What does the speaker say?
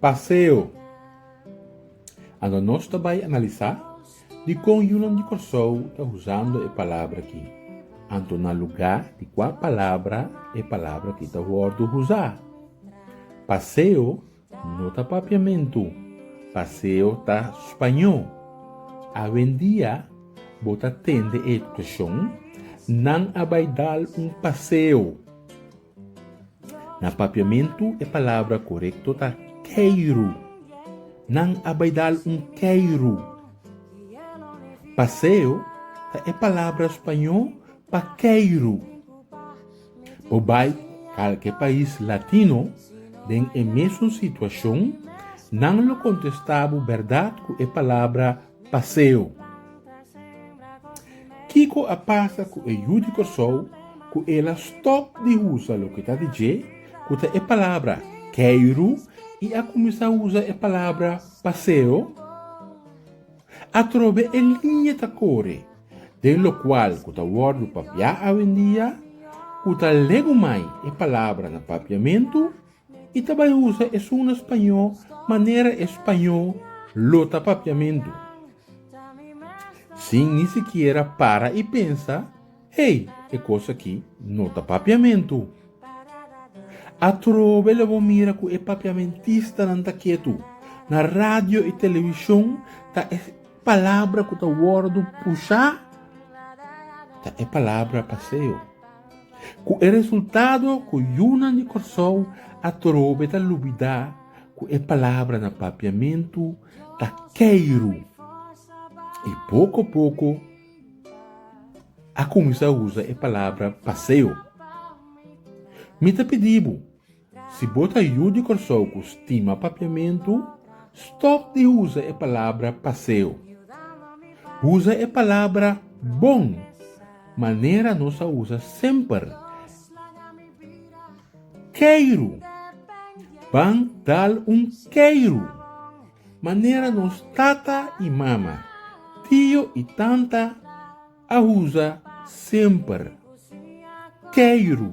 Paseo. Anto nos ta bai analisá dikon yunan di Kòrsou ta usando e palabra ki. Anto na lugá di kua palabra e palabra ki ta wòrdu usá. Paseo no ta papiamentu, paseo ta spañó. Awendia bo ta tende e ekspreshon, Nan a bai dal un paseo. Na papiamentu e palabra korekto ta keiru. Nan a bai dal un keiru. Paseo ta e palabra spañó pa keiru. Bo bai kalke pais latino den e mesun situashon, nan lo kontestá bo bèrdat ku e palabra Paseo. Kiko a pasa ku e yu di Kòrsou ku el a stòp di usa loke ta di dje ku ta e palabra keiru i a kuminsá usa e palabra paseo? Atrobe e liña ta kore den lokual ku ta wòrdu papiá awendia ku ta legumai e palabra na papiamentu? I ta bai usa esun na spañó manera e spañó lo ta papiamentu, sin ni sikiera para i pensa, Hey, e kos aki no ta papiamentu. Atrobe lo bo mira ku e papiamentistanan ta ketu. Na radio i televishon ta e palabra ku ta wòrdu pushá ta e palabra paseo. Ku e resultado ku yunan di Kòrsou atrobe ta lubidá ku e palabra na papiamentu ta keiru i poko poko a kuminsá usa e palabra paseo. Mi ta pidi bo. Si bo ta yu di Kòrsou ku stima papiamentu, stòp di usa e palabra paseo. Usa e palabra bon, manera nos a usa semper, keiru, ban dal un keiru, manera nos tata i mama, tio i tanta a usa semper, keiru.